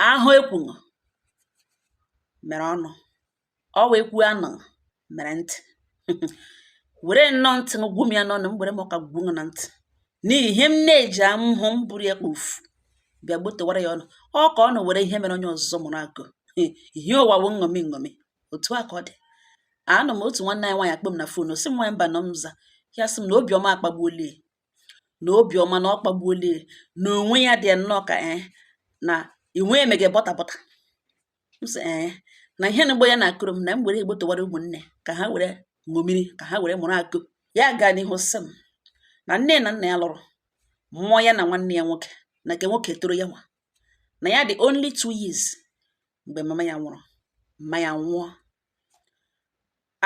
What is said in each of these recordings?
ahụ ekwuṅụ mere ọnụ ọ wee kwuo anụ mere ntị were nnọọ ntị m gwum ya n'ọnụ m were m ọka gwum na ntị n'ihi ihe m na-eji ahụhụ m buru ya kpofu bịa gbotewara ya ụnụ ọ ka ụnụ were ihe mere onye ọzọ mụrụ akọ ihe ụwa wụ nṅomi nṅomi otu a ka ọ dị anọ m otu nwanne anyị nwaanyị akpọ m na fon sị m nwaanyị mbanọ m za ya sị m na obiọma akpagbuolie na obiọma na ọ kpagbuola ya na onwe ya dị nnọọ ka ee eh, na inwe emege bọta bọta m sị ee eh, na ihe na-egbu ya na-akọrọ m na m were gbotewara ụmụnne ka ha were ṅomiri ka ha were mụrụ akọ ya gaa n'ihu sị m na nne na nna ya lụrụ mụọ ya na nwanne ya nwoke na nke nwoke toro ya nwa na ya dị only two years mgbe mama ya nwụrụ mma ya nwụọ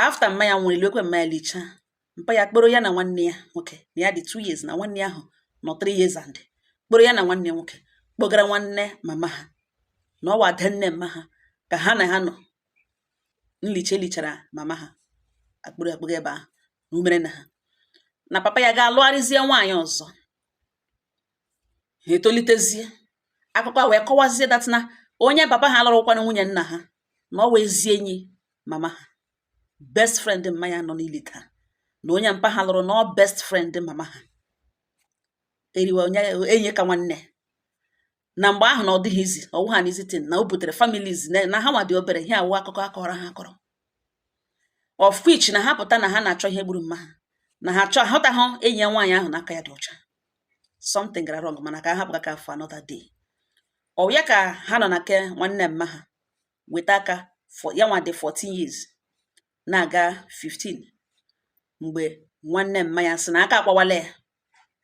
after mma ya nwụrụ e liekwe mma ya lichaa mpa ya kpọrọ ya na nwanne ya nwoke na ya dị two years na nwanne ya ahụ nọ three years and kpọrọ ya na nwanne ya nwoke kpọgara nwanne mama ha na ọ wụ ada nne mma ha ka ha na ha nọ nlicha e lichara mama ha akpọrọ ha kpọga ebe ahụ na o mere na ha na papa ya ga-alụgharịzie nwaanyị ọzọ ha etolitezie akụkọ a wee kọwazie that na onye papa ha lụrụkwanụ nwunye nna ha na ọ wụ ezi enyi mama ha best friend mma ya nọ n'ili taa na onye mpa ha lụrụ na ọ best friend mama ha eriwe onye enyi ka nwanne na mgbe ahụ na ọ dịghị easy ọ wụhụ an easy thing na o butere families na na ha nwa dị obere ihe a wụ akụkọ a kọrọ ha akọrọ of which na ha pụta na ha na-achọ ihe gburu mma ha na ha chọọ ahụtaghị enyi ya nwaanyị ahụ na aka ya dị ọcha something gara wrong mana ka ha hapụ aka for another day ọ ya ka ha nọ na ke nwanne mma ha weta aka ya nwa dị 14 years na-aga 15 mgbe nwanne mma ya sị na aka akpawala ya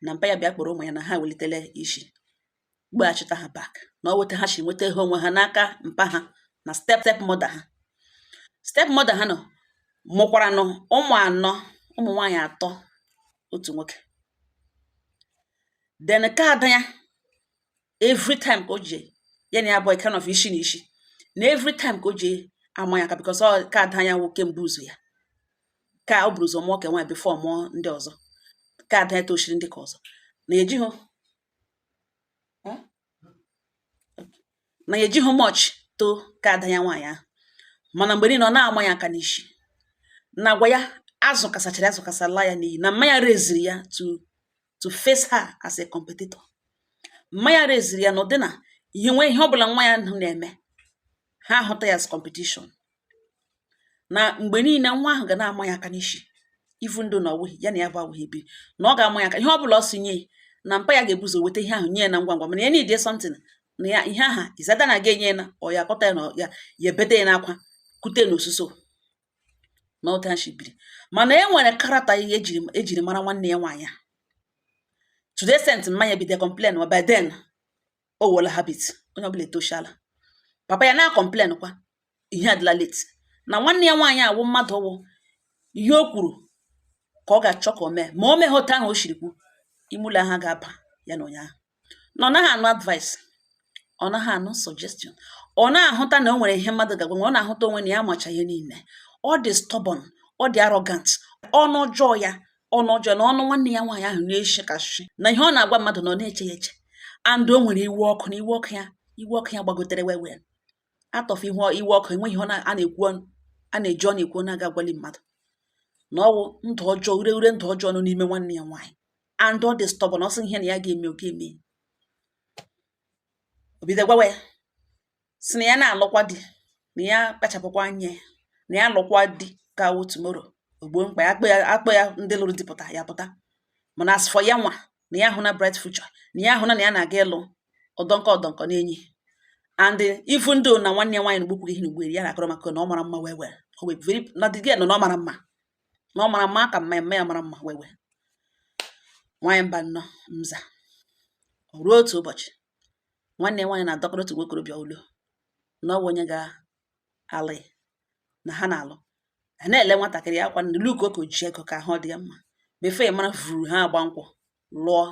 na mpa ya bịa kpọrọ ụmụ ya na ha welitele isi weghachita ha back na ọ wụ etu ha si nweta ihe onwe ha n'aka mpa ha na step step mother ha step mother ha nọ mụkwaranụ ụmụ anọ ụmụ nwaanyị atọ otu nwoke then ka ada ya every time ka o ji ya na ya bụ kind of isi na isi na every time ka o ji ama ya aka because ọ ka ada ya wụ ke mbụ ụzọ ya ka o buru ụzọ mụọ ka nwaanyị before mụọ ndị ọzọ ka ada ya tochiri ndị ka ọzọ na ejighị na ya ejighị much too ka ada ya nwaanyị ahụ mana mgbe niile ọ na-ama ya aka n'isi na agwa ya azụkasachara azụkasala ya n'iyi na mma ya raisiri ya to to face her as a competitor mma ya raisiri ya na ụdị na ihe nwee ihe ọbụla nwa ya na-eme ha ahụta ya as competition na mgbe niile nwa ahụ ga na-ama ya aka n'isi even though na ọwụghị ya na ya bụ awụghị bi na ọ ga-ama ya aka ihe ọ bụla ọ sị nye na mpa ya ga-ebu ụzọ weta ihe ahụ nye ya na ngwa ngwa mana ya need something na ya ihe aha izada na aga enye ya na ọ ya akọta ya na ya ya ebete ya n'akwa kute na ọsụsọ na otu ha si biri mana e nwere character ihe ejiri ejiri mara nwanne ya nwaanyị a to the extent mma ya bide complain wa by then ọ wụọla habit onye ọbụla etoshala papa ya na-acomplain kwa ihe adịla late na nwanne ya nwaanyị awụ mmadụ wụ ihe o kwuru ka ọ ga-achọ ka o mee ma o meghị otu ahụ o shiri kwu ime ụlọ ha ga-aba ya na onye ahụ na ọ naghị anụ advice ọ naghị anụ suggestion ọ na-ahụta na o nwere ihe mmadụ ga-agwa ya ọ na-ahụta onwe na ya amacha ihe niile ọ dị stubborn ọ dị arrogant ọnụ ọjọọ ya ọnụ ọjọọ na ọnụ nwanne ya nwaanyị ahụ na-eshi ka nshị na ihe ọ na-agwa mmadụ na ọ na-eche ya eche and o nwere iwe ọkụ na iwe ọkụ ya iwe ọkụ ya gbagotere well well atọfụ ihu iwe ọkụ enweghị ihe a na-ekwu ọnụ a na-eji ọnụ ekwu na a ga-agwali mmadụ na ọwụ ndụ ọjọọ ure ure ndụ ọjọọ nọ n'ime nwanne ya nwaanyị and ọ dị stubborn na ọ sị ihe na ya ga-eme ọ ga-eme o bido gwawa ya sị na ya na-alụkwa di na ya kpachapụkwa anya ya na ya lụkwa di ka awụ tomorrow ogbo mkpa ya akpọ ya akpọ ya ndị lụrụ di pụta ya pụta mana as for ya nwa na ya ahụna bright future na ya ahụna na ya na-aga ịlụ ọdọnkọ ọdọnkọ n'enyi and even though na nwanne ya nwaanyị na gbukwuru ihe na ugberi ya na-akọrọ maka na ọ mara mma well well o wee very na the girl know na ọ mara mma na ọ mara mma ka mma ya mma ya mara mma well well nwaanyị mba nnọọ mza ruo otu ụbọchị nwanne nwaanyị na-adọkọrọ otu nwokorobịa ụlọ na ọ bụ onye ga-alụ ya na ha na-alụ a na-ele nwatakịrị a kwa na-look ka o ji ego ka ahụ dị ya mma before ya amara vuru ha agba nkwụ lụọ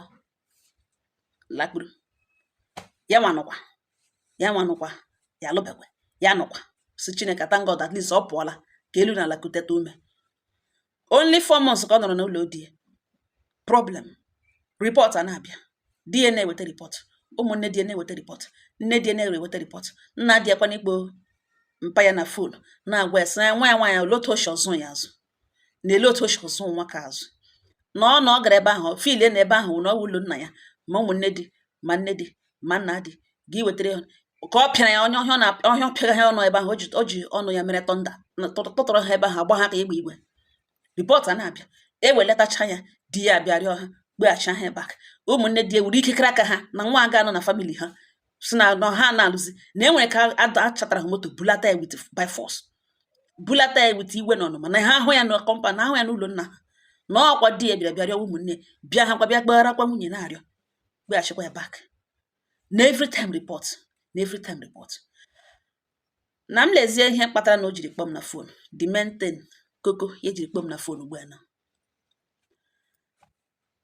lakpuru ya nwanụkwa ya nwanụkwa ya alụbekwe ya nụkwa sị Chineke thank God at least ọ pụọla ka elu na ala kuteta ume only four months ka ọ nọrọ n'ụlọ di ya problem report a na-abịa di ya na-eweta report ụmụnne di ya na-eweta report nne di ya na-eweta report nna di ya kwa na-akpọ mpa ya na phone na-agwa ya sị na nwa ya nwaanyị ole otu o shi zụọ ya azụ na ele otu o shi zụọ nwa ka azụ na ọ na ọ gara ebe ahụ feelie na ebe ahụ na ọ wụ ụlọ nna ya ma ụmụnne di ma nne di ma nna di gị wetara ya ka ọ pịara ya onye ọhịa na ọhịa pịara ha ọnụ ebe ahụ o ji ọnụ ya mere thunder tụtụrụ ha ebe ahụ agba ha ka igbe igbe report a na-abịa ewelatacha ya di ya abịa rịọ ha kpọghachi ya back ụmụnne di ewere ikekere aka ha na nwa aga anọ na family ha sị na no ha na-alụzi na e nwere ka a chatara ha moto bulata ya with by force bulata ya with iwe na ọnụma na ha ahụ ya na compound ahụ ya n'ụlọ nna ha na ọkwa di ya bịara bịa rịọ ụmụnne bịa ha kwa bịa gbaghara kwa nwunye na-arịọ gbeghachikwa ya back na every time report na every time report na m lezie ihe kpatara na o jiri kpọọ m na fon the main koko ya jiri kpọọ m na fon ugbu a na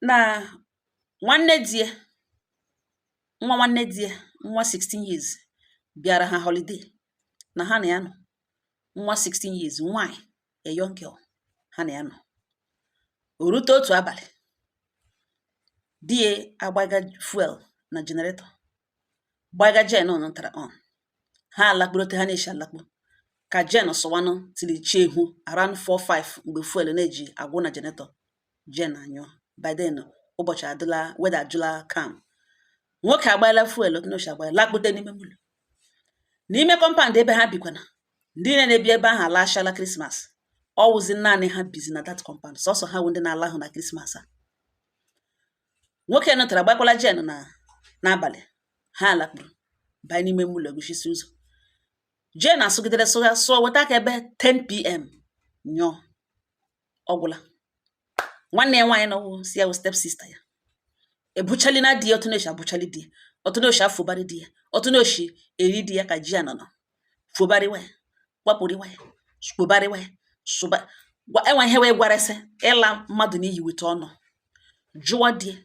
na nwanne di ya nwa nwanne di ya nwa 16 years bịara ha holiday na ha na ya nọ nwa 16 years nwanyị a young girl ha na ya nọ o rute otu abalị di ya agbaga fuel na jenaretọ gbaga jen nọtara on ha alakpuru otu ha na-eshi alakpu ka jen sụwanụ till chi ehu around 4-5 mgbe fuel na-eji agwụ na jenaretọ jen anyụọ by then ụbọchị adịla weather ajụla calm nwoke agbaela fuel otu ọ na-eshi agbaela lakpute n'ime ụlọ n'ime kọmpand ebe ha bikwana ndị niile na-ebi ebe ahụ alaachala krismas ọ wụzi naanị ha bizi na dat kọmpand sọsọ ha wụ ndị na-alahụ na krismas a nwoke nọtara gbakwala jen a n'abalị ha alakpuru banye n'ime ụlọ guchisi ụzọ jen asụgidere sụgha sụọ weta aka ebe 10pm nyụọ ọ gwụla nwanne ya nwaanyị nọwụ si ya wụ step sista ya ebuchali na di ya otu na-esi abụchali di ya otu na-esi afụbarị di ya otu na-esi eri di ya ka ji ya anọ fụbarịwa ya gbapụrịwa ya kpobarịwa ya sụba enwe ihe wee gwarasị ịla mmadụ n'iyi weta ọnụ jụwa di ya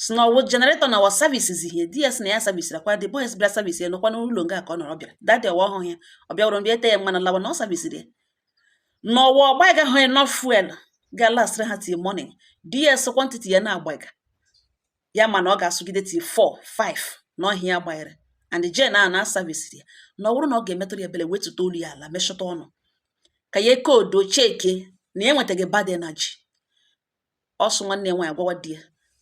si na ọwụ generator na wa services ihe di ya si na ya servisirakwa the boys bịa service ya nọkwa n'ụlọ nga ka ọ nọrọ bịara dadi ọwa ọhụrụ ya ọ bịawụrụ bịa ete ya mmanụ lawa na ọ servisiri ya na ọwa ọ gbaigahụ ya enough fuel ga last ha till morning di ya sị kwantiti ya na-agbaiga ya mana ọ ga-asụgide till 4 5 na ọ ihe a ya gbanyere and jen a na service ya na ọ bụrụ na ọ ga-emetụrụ ya ebele wetụta olu ya ala mechọta ọnụ ka ya cool down cheke na ya enwetaghị bad energy ọ sụ nwanne ya nwaanyị gwawa di ya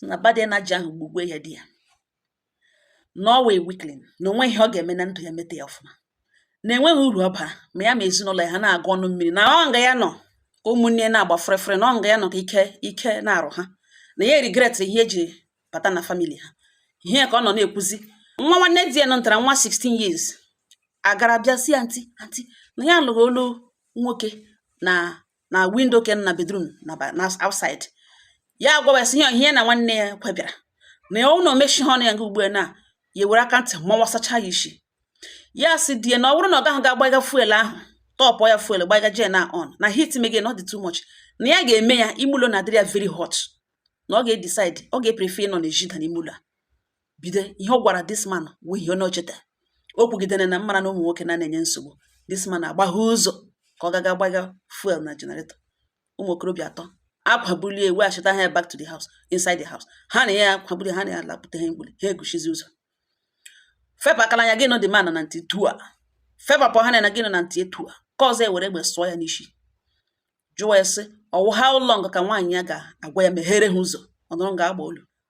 na bad energy ahụ gbugwe ya di ya na ọ wụ a weakling na onwe ihe ọ ga-eme na ndụ ya meta ya ọfụma na enweghị uru ọ bara ma ya ma ezinụlọ ya ha na-agụ ọnụ mmiri na ọ nga ya nọ ka ụmụnne na-agba fere fere na ọ nga ya nọ ka ike na-arụ ha na ya eregret ihe eji bata na famili ha ihe ka ọ nọ na-ekwuzi nwa nwanne di ya nọtara nwa 16 years agara bịa si ya anti anti na ya lụrụ olu nwoke na na windo ke na bedrum na ba- na outside ya agwawa sị ya ihe ya na nwanne ya kwebịara na ya ụlọ mechi ha ọnụ ya nga ugbu a na ya were aka ntị mawasacha ya isi ya sị di ya na ọ bụrụ na ọ gaghị ga-agbaga fuel ahụ tọpụ ya fuel gbaga jen a on na heat mege na ọ dị too much na ya ga-eme ya ime ụlọ na-adịrị ya very hot na ọ ga-edecide ọ ga-eprefe ịnọ n'ezi than n'ime ụlọ a bido ihe ọ gwara this man wụ ihe ọ na-echeta o kwugidere na m mara na ụmụ nwoke na na-enye nsogbu this man agbaghe ụzọ ka ọ gaga gbaga fuel na generator ụmụ okorobịa atọ akwabulie weghachita ha back to the house inside the house ha na ya akwabulie ha na ya lapụta ha mgbuli ha eguchizi ụzọ fepụ akala anya gị nọ the man na ntị tu a fepapụ ha na gị nọ na ntị etu a ka ọzọ ewere egbe sụọ ya n'isi jụwa ya sị ọ wụ how long ka nwaanyị ya ga-agwa ya meghere ha ụzọ ọ nọrọ ga-agba olu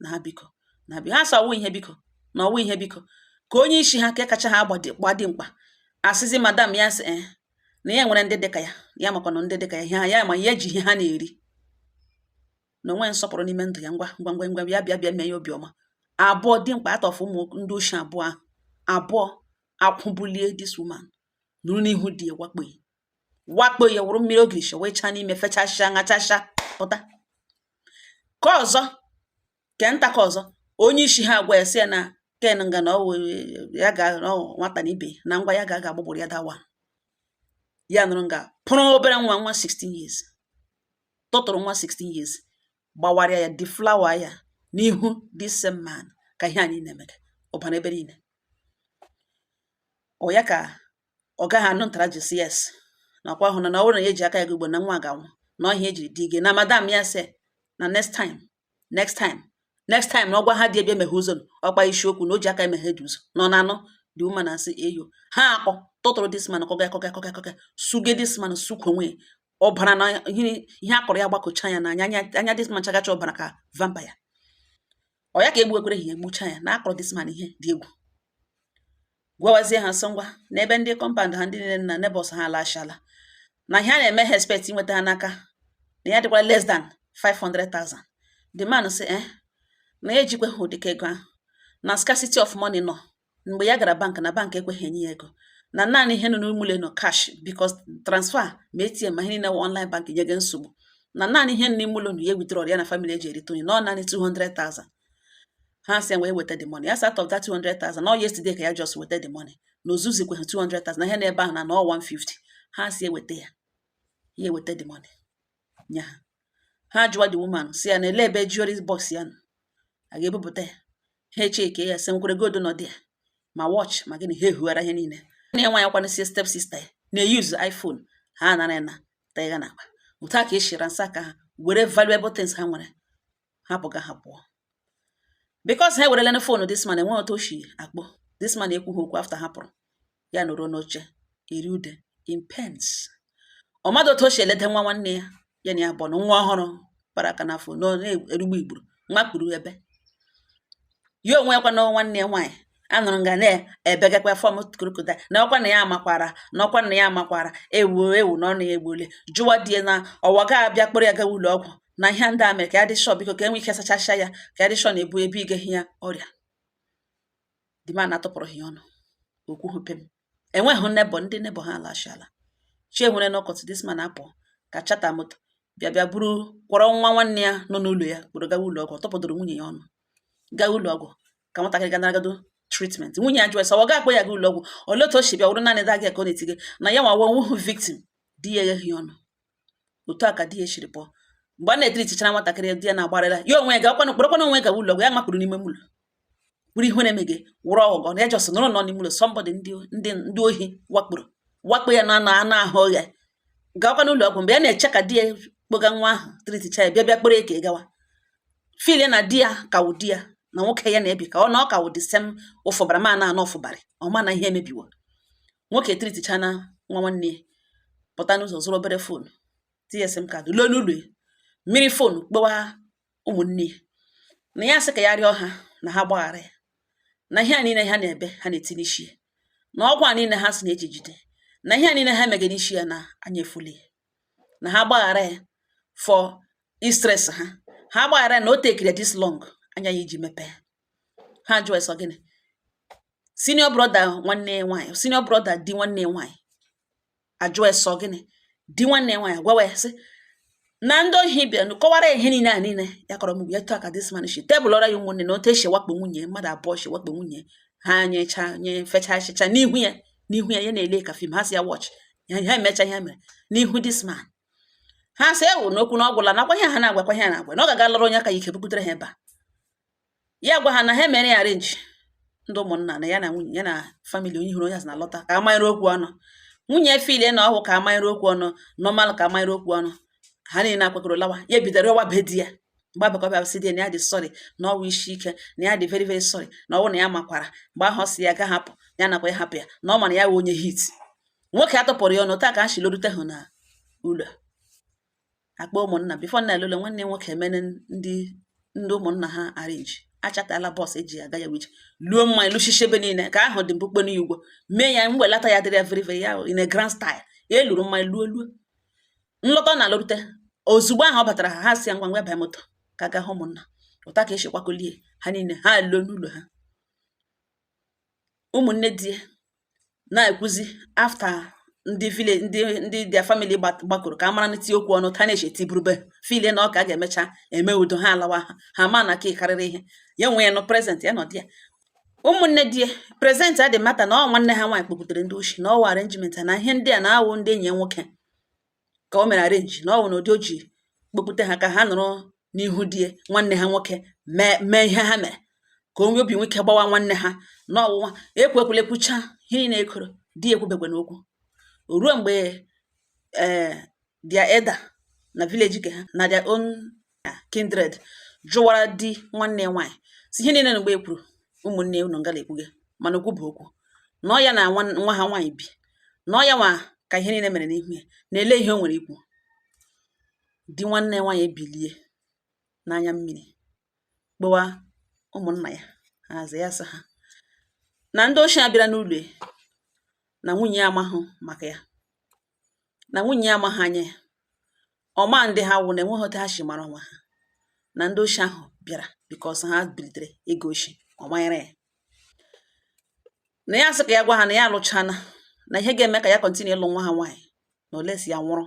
na ha biko na biko ha sị ọ wụ ihe biko na ọ wụ ihe biko ka onye isi ha nke kacha ha gbaa dimkpa asịzi madam ya sị eh, na ya nwere ndị dịka ya ya makwa na ndị dịka ya ha ya ma ya ji ihe ha na-eri na o nwe nsọpụrụ n'ime ndụ ya ngwa ngwa ngwa ngwa ya bịa bịa mee ya obi ọma abụọ dimkpa atọ afụ ụmụ ndị oshi abụọ ahụ abụọ akwụbulie this woman nọrọ n'ihu di ya wakpo wakpo ya wụrụ mmiri ogirishi wee chaa n'ime fechasịa ṅachasịa pụta ka ọzọ ke nta ka ọzọ onye isi ha agwa ya sị ya na kee nga na ya ga nwata na ibe na ngwa ya ga aga agbagburu ya dawa ya nọrọ nga pụrụ obere nwa nwa 16 years tụtụrụ nwa 16 years gbawara ya deflower ya n'ihu this same man ka ihe a niile na-emega ọbara ebe niile ọ ya ka ọ gaghị anụ ntara ji si yes na ọkwa ahụ na na ọ bụrụ na ya eji aka ya gị ugbo na nwa ga-anwụ n'ọhịa ejiri dị ige na madam ya sị na next time next time next time na ọ gwa ha dị ebe emeghe ụzọ ọkpa isiokwu na o ji aka emeghe dị ụzọ nọ na anọ the woman na asị eyo ha akpọ tụtụrụ this man kụga kụga kụga kụga suge this man sukwu onwe ọbara na ihe akọrọ ya gbakọcha ya n'anya anya this man chagacha ọbara ka vampire ọ ya ka egbuekwere ha egbucha ya na akụrụ this man ihe dị egwu gwawazie ha sị ngwa n'ebe ndị compound ha ndị niile na neighbors ha alachala na ihe a na-eme ha expect inweta ha n'aka na ya dịkwara less than 500,000 the man sị eh na ya ejikweghị ụdịka ego ahụ na scarcity of money nọ mgbe ya gara bank na bank ekweghị enye ya ego na naanị ihe nọ n'ime ụlọ nọ cash because transfer ma ATM ma ihe niile wụ online bank nye gị nsogbu na naanị ihe nọ n'ime ụlọ nụ ya withdraw ya na family eji erite onye na ọ naanị 200,000 ha sị ya wee weta the money ya sị out of that 200,000 na ọ yesterday ka ya just weta the money na o zuzikweghị 200,000 na ihe nọ ebe ahụ na na ọ 150 ha sị ya weta ya ya eweta the money nye ha ha jụwa the woman sị ya na olee ebe jewelry box ya nọ a ga-ebupụta ya ha e-check ya sekọrọ gold nọ there ma watch ma gịnị ha ehughara ihe niile na nwa ya kwana sie step sister ya na-use iPhone ha anara na tiga n'akpa otu a ka e si ransack ha were valuable things ha nwere ha pụga ha pụọ because ha ewerelene phone this man enwe otu o shi akpọ this man ekwughị okwu after ha pụrụ ya nọrọ n'oche eri ude in pains ọ madụ otu o shi elede nwa nwanne ya ya na ya bụ na nwa ọ hụrụ kpara aka n'afọ na-erugbu igburu makpuru ebe ya onwe ya kwa na nwanne ya nwaanyị anụrụ nga na-ebegakwa fọm kurukuta na ọkwa na ya amakwara na ọkwa na ya amakwara ewu ewu na ọ na-egbule jụwa di ya na ọwa ga abịa kpọrọ ya gawa ụlọ ọgwụ na ihe ndị a mere ka ya dị sure biko ka e nwee ike sachacha ya ka ya dị sure na-ebu ebe igehi ya ọrịa the man atụpụrụ ya ọnụ okwu hụpe m enweghị neighbour ndị neighbour ha alachala chi enwere n'ọkọtụ this man apụ ga chata moto bịa bịa buru kwọrọ nwa nwanne ya nọ n'ụlọ ya kpọrọ gawa ụlọ ọgwụ tọpụdoro nwunye ya ọnụ gaa ụlọ ọgwụ ka nwatakịrị ga naragado treatment nwunye ya jụrụ sị ọ ga-akpọ ya ga ụlọ ọgwụ olee otu o si bịa wụrụ naanị daghị ka ọ na-etige na ya nwa wonwu victim di ya egheghị ọnụ otu a ka di ya siri pụọ mgbe a na-etritichara nwatakịrị di ya na-agbarịla ya onwe ya gakwana kpọrọkwana onwe ga ụlọ ọgwụ ya makpụrụ n'ime ụlọ bụrụ ihe na-eme gị wụrụ aghụghọ na ya just nọrọ nọ n'ime ụlọ somebody ndị ndị ohi wakporo wakpo ya na anụ anụ ahụ ya gakwa n'ụlọ ọgwụ mgbe ya na-eche ka di ya kpoga nwa ahụ triticha ya bịa bịa kpọrọ eke gawa feel na di ya ka wụ di ya na nwoke ya na-ebi ka ọ na ọ ka wụ the same ụfụbara ma na anọ ụfụbarị ọ ma na ihe emebiwo nwoke triticha na nwa nwanne ya pụta n'ụzọ zụrụ obere phone tinye sim card lue n'ụlọ jiri phone kpọwa ụmụnne ya na ya sị ka ya rịọ ha na ha gbaghara ya na ihe a niile ha na-ebe ha na-eti n'isi ya na ọgwụ a niile ha si na e ji jide na ihe a niile ha megara isi ya na anya efuli ya na ha gbaghara ya for stress ha ha gbaghara ya na o tekiri this long anya ya iji mepee ha jụọ sị ọ gịnị senior brother nwanne ya nwaanyị senior brother di nwanne ya nwaanyị ajụọ sị ọ gịnị di nwanne ya nwaanyị gwawa ya sị na ndị ohi bịanụ kọwara ihe niile a niile ya kọrọ mgbe ya otu a ka this man shi tebụlọra ya ụmụnne na otu e si wakpo nwunye mmadụ abụọ shi wakpo nwunye ha nyecha nye fecha achịcha n'ihu ya n'ihu ya ya na-ele ka film ha si ya watch ya emecha ihe mere n'ihu this man ha sị ewu n'okwu na ọ gwụla nakwa ihe ha na-agwakwa ihe na-agwa na ọ ga-aga lụrụ onye aka ya ike bubutere ha ebe a ya gwa ha na ha mere ya arrange ndị ụmụnna na ya na nwunye ya na family onye hụrụ onye asị na lọta ka amanyere okwu ọnụ nwunye filie na ọhụ ka amanyere okwu ọnụ normal ka amanyere okwu ọnụ ha niile akwakọrọ lawa ya bido rịọwa be di ya mgbaghara bịa sị di ya na ya dị sorry na ọ wụ isi ike na ya dị very very sorry na ọ wụ na ya makwara mgbe ahụ si ya ga hapụ ya nakwa ya hapụ ya na ọ ma na ya wụ onye hit nwoke atụpụrụ ya ọnụ taa ka ha si lorute hụ na ụlọ akpọọ ụmụnna before a na-elule nwanne nwoke emene ndị ndị ụmụnna ha arrange achatala bus eji aga ya wee je lụọ mmanya lụchichie ebe niile ka ahụ dị mkpukpe n'ugwo mee ya mwelata ya dịrị virive ya in a grand style ya eluru mmanya luo luo nlọta na alụrute ozugbo ahụ ọ batara ha ha si ya ngwa ngwa bịa moto ka aga hụ ụmụnna otu a ka e si kwakolie ha niile ha luo n'ụlọ ha ụmụnne di na-ekwuzi after ndị village ndị ndị their family gbakọrọ ka a mara n'iti okwu ọnụ ta na-eche tiburube feel na ọ ka a ga-emecha eme udo ha alawa ha ha ma na ka ị karịrị ihe ya nwa nọ present ya na di ya ụmụnne di ya present a dị mata na ọ nwanne ha nwaanyị kpọpụtere ndị oshi na ọ wụ arrangement na ihe ndị a na-awụ ndị enyi ya nwoke ka o mere arrange na ọ wụ na ụdị o ji kpokpute ha ka ha nọrọ n'ihu di ya nwanne ha nwoke mee mee ihe ha mere ka o nwee obi nwee ike gbawa nwanne ha na ọwụwa ekwekwele kwucha ihe niile e kwuru di ya ekwubekwe n'okwu ruo mgbe ee their elder na village ke ha na their own kindred jụwara di nwanne ya nwaanyị sị ihe niile na mgbe e kwuru ụmụnne unu ngala ekwuge mana okwu bụ okwu na ọ ya na nwa ha nwaanyị bi na ọ ya nwa ka ihe niile mere n'ihu ya na olee ihe o nwere ikwu di nwanne nwaanyị ebilie n'anya mmiri kpọwa ụmụnna ya ha aza ya sị ha na ndị oshi a bịara n'ụlọ na nwunye ya amahụ maka ya na nwunye ya amaghị anya ya ọ ma ndị ha wụ na enweghị otu ha si mara onwe ha na ndị oshi ahụ bịara because ha bilitere ego oshi ọ manyere ya na ya sị ka ya gwa ha na ya alụchana na ihe ga-eme ka ya continue ịlụ nwa ha nwaanyị na unless ya nwụrụ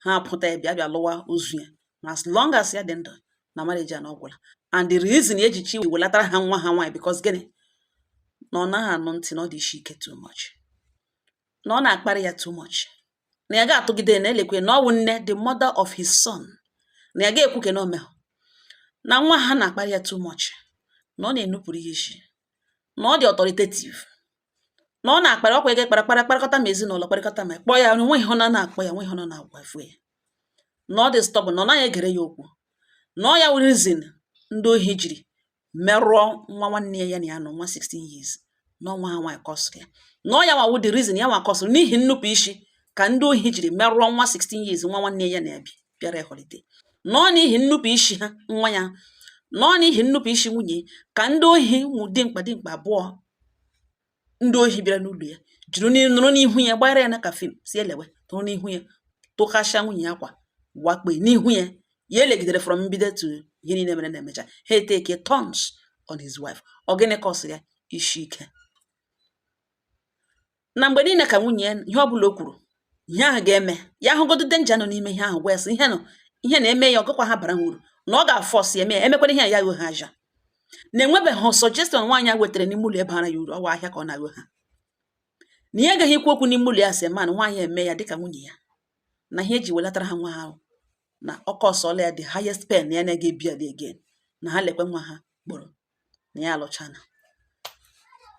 ha pụta ya bịa bịa lụwa ozu ya na as long as ya dị ndụ na marriage ya na ọ gwụla and the reason e ji chi welatara ha nwa ha nwaanyị because gịnị na ọ naghị anụ ntị na ọ dị isi ike too much na ọ na-akparị ya too much na ya ga-atụgide na-elekwe na ọ wụ nne the mother of his son na ya ga-ekwu ke na omehụ na nwa ha na-akparị ya too much na ọ na-enupụrụ ya isi na ọ dị authoritative na ọ na-akparị ọkwa ego kparịa kparịa kparịkọta ma ezinụlọ kparịkọta ma kpọọ ya nwe ihe ọ na-akpọ ya nwe ihe ọ na-agwa efu ya na ọ dị stubborn na ọ naghị egere ya okwu na ọ ya wụ reason ndị ohi jiri merụọ nwa nwanne ya ya na ya nọ nwa 16 years na ọ nwa ha nwaanyị cause ya na ọ ya nwa wụ the reason ya nwa cause n'ihi nnupụ isi ka ndị ohi jiri merụọ nwa 16 years nwa nwanne ya na-ebi bịara holiday na ọ n'ihi nnupụ isi ha nwa ya na ọ n'ihi nnupụ isi nwunye ka ndị ohi ụmụ dimkpa dimkpa abụọ ndị ohi bịara n'ụlọ ya jiri nọrọ n'ihu ya gbara ya na ka film si elewe nọrọ n'ihu ya dọkasịa nwunye ya akwa wakpo n'ihu ya ya elegidere from mbido to ihe niile mere na-emecha ha e-take turns on his wife ọ gịnị cause-ịrị ya isi ike na mgbe niile ka nwunye ya ihe ọ bụla o kwuru ihe ahụ ga-eme ya ahụgodu danger nọ n'ime ihe ahụ gwa ya sị ihe nọ ihe na-eme ya ọgụkwa ha bara ha uru na ọ ga-a-force eme ya emekwara ihe a ya ghọ ha ahịa na e nwebeghị suggestion nwaanyị a wetara n'ime ụlọ bara ya uru ọ wụ ahịa ka ọ na-aghọ ha na ya agaghị ikwu okwu n'ime ụlọ ya as a man nwaanyị eme ya dịka nwunye ya na ihe e ji welatara ha nwa ha ahụ na ọ cause-ụla ya the highest pain ya na-agaghị e-bear again na ha lekwe nwa ha kpọrọ na ya alụchana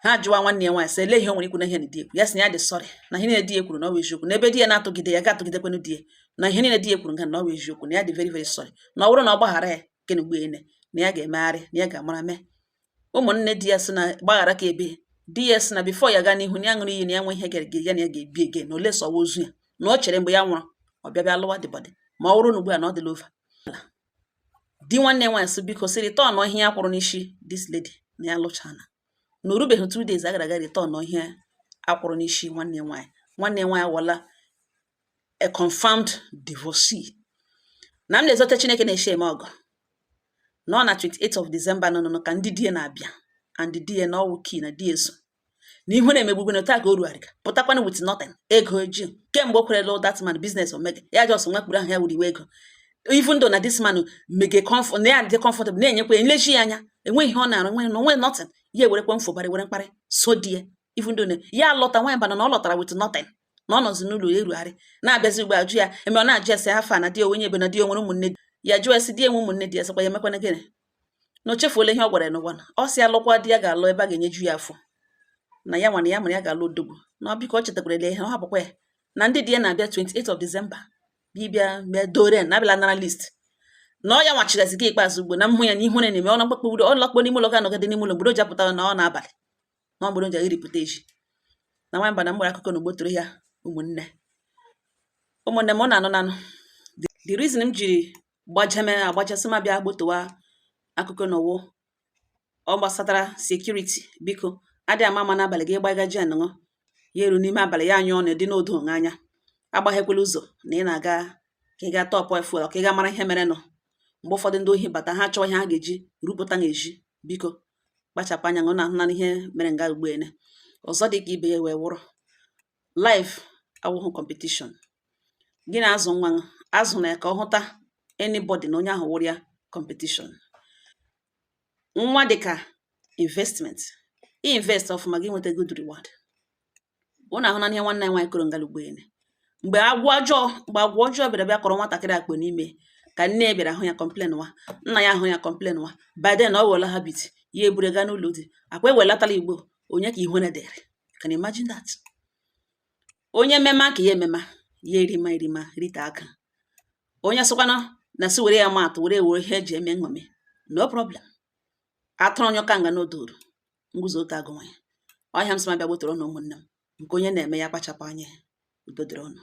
ha jụwa nwanne ya nwaanyị sị ele ihe o nwere ikwu na ihe na di ya kwuru ya sị na ya dị sorry na ihe niile di ya kwuru na ọ bụ eziokwu na ebe di ya na-atụgide ya ga-atụgidekwanụ di ya na ihe niile di ya kwuru nga na ọ bụ eziokwu na ya dị very very sorry na ọ bụrụ na ọ gbaghara ya gịnị mgbe ene na ya ga-emegharị na ya ga-amara mee ụmụnne di ya sị na gbaghara ka ebe di ya sị na before ya gaa n'ihu na ya ṅụrụ iyi na ya nwehị nga ya na ya ga-ebi again unless ọwụ ozu ya na o chere mgbe ya nwụrụ ọ bịa bịa lụwa dead body ma ọ bụrụ na ugbu a na ọ dịla over di nwanne ya nwaanyị sị biko sị return ihe ya kwụrụ n'isi this lady na ya lụchana na o rubeghị two days a gara ga return ihe a kwụrụ n'isi nwanne nwaanyị nwanne nwaanyị wụla a confirmed divorcee na m na-ezote chineke na-eche eme ọgọ na ọ na 28 of December nọ nọ ka ndị di ya na-abịa and di ya nọ UK na di ya so na ihere na-emegbu na taa ka o rugharịga pụtakwana with nothing ego o ji kemgbe o kwere lụ that man business ọ mega ya just nwa kpuru ahụ ya wụ riwe ego even though na this man mega comfort na ya dị comfortable na-enyekwa ya nlechi ya anya enweghị ihe ọ na-arụ nwe na onwe nothing ya ewerekwa mfobara were mkparị so di ya even though na ya lọta nwa bana na ọ lọtara with nothing na ọ nọzi n'ụlọ ya erugharị na-abịazi ugbo ajụ ya eme ọ na-ajụ ese how far na di ọwụ onye ebee na di o nwere ụmụnne ya jụọ ese di enwe ụmụnne di ya sịkwa ya emekwana gịnị na o chefuola ihe ọ gwara ya n'ụwa na ọ sị alụkwa di ya ga-alụ ebe a ga-enyeju ya afọ na ya nwana ya mara ya ga-alụ odogwu na ọ biko ọ chetakwara ya ihe ọ hapụkwa ya na ndị di ya na-abịa 28 of December ịbịa bịa dowry na abịala nara list na ọ ya nwa chịgazi ọchị ikpeazụ ugbo na mmụ ya na ihere na-eme ọ na mkpakpọ udo ọ lakpuo n'ime ụlọ ga-anọgide n'ime ụlọ mgbe o ji apụtara na ọ n'abalị na ọ bụrụ nje iripụta echi na nwa mba na mgbere akụkọ na o gbotoro ya ụmụnne ụmụnne m unu anụnanụ the reason m jiri gbajeme agbachasị m abịa gbotowa akụkọ na ọwụ ọ gbasatara security biko adị ama ama n'abalị gị gbaga gen unu ya eru n'ime abalị ya anyụọ na dị n'odo onwe anya agbaghekwala ụzọ na ị na-aga ka ị ga top fuel ka ị ga mara ihe merenụ mgbe ụfọdụ ndị ohi bata ha chọọ ihe ha ga-eji rapụta unu ezi biko kpachapụ anya unu ahụna ihe mere nga ugbo ene ọzọ dị ka ibe ya wee wụrụ life awụghị competition gị na-azụ nwa azụna ya ka ọ hụta anybody na onye ahụ wụrụ ya competition nwa dị ka investment invest ọfụma gị nweta good reward unu ahụna ihe nwanne anyị nwaanyị kọrọ nga ugbo ene mgbe agwa ọjọọ mgbe agwa ọjọọ bịara bịa kọrọ nwatakịrị akpọ n'imi ka nne ya bịara hụ ya complain wa nna ya hụ ya complain wa by then ọ wụla habit ya eburu gaa n'ụlọ di akwa ewelatala ugbo onye ka ihere dịịrị can you imagine that onye mema ka ya emema ya erima erima rite aka onye sịkwana na sị were ya maa atụ were were ihe eji eme nṅomi no problem atụrụ onye ọka nga nọdọrọ nguzo ọtọ agụwanụ ya ọ ihe a m sị m abịa gbotoro unu ụmụnne m nke onye na-eme ya kpachapụ anya udo dịrị unu